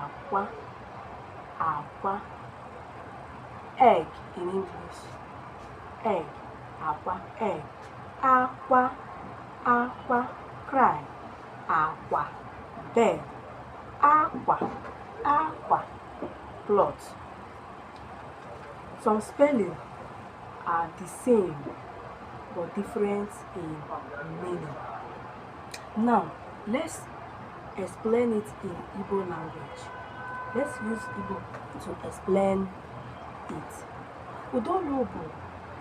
akwa akwa egg in English egg akwa egg akwa akwa cry akwa bed akwa akwa cloth some spelling are the same but different in meaning Now, let's explain it in Igbo language. Let's use Igbo to explain it. Ụdaolu bụ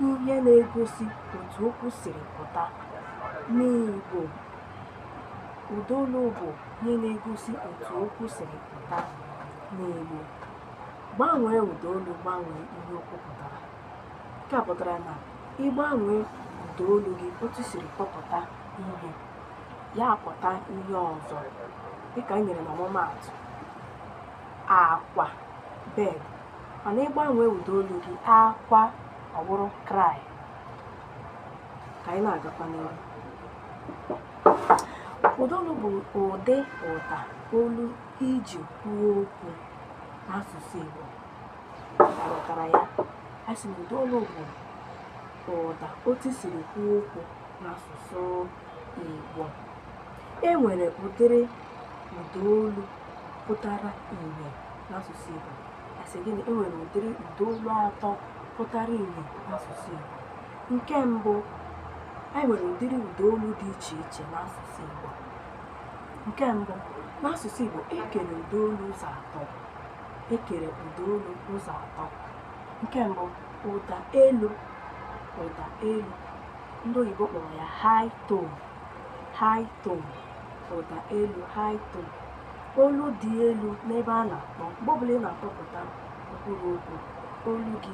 ihe na-egosi otu okwu siri pụta n'Igbo. Ụdaolu bụ ihe na-egosi otu okwu siri pụta n'Igbo. Gbanwee ụdaolu gbanwee ihe okwu pụtara. nke a pụtara na ị gbanwee ụda olu gị otu i siri kpọpụta ihe ya apụta ihe ọzọ dịka anyị nyere n'ọmụmaatụ akwa bed mana ị gbanwee ụda olu gị akwa ọ bụrụ cry ka anyị na-agakwa n'ihu ụda olu bụ ụdị ụda olu i ji kwuo okwu n'asụsụ Igbo ghọtara ya a sị na ụda olu bụ ụda otu i siri kwuo okwu n'asụsụ Igbo e nwere ụdịrị ụda olu pụtara ihe n'asụsụ Igbo a sị gịnị e nwere ụdịrị ụda olu atọ pụtara ihe n'asụsụ Igbo nke mbụ anyị nwere ụdịrị ụda olu dị iche iche n'asụsụ Igbo nke mbụ n'asụsụ Igbo e kere ụda olu ụzọ atọ e kere ụda olu ụzọ atọ nke mbụ ụda elu ụda elu ndị oyibo kpọrọ ya high tone high tone ụda elu high tone olu dị elu n'ebe a na-akpọ mgbe ọbụla ị na-akpọpụta mkpụrụ okwu olu gị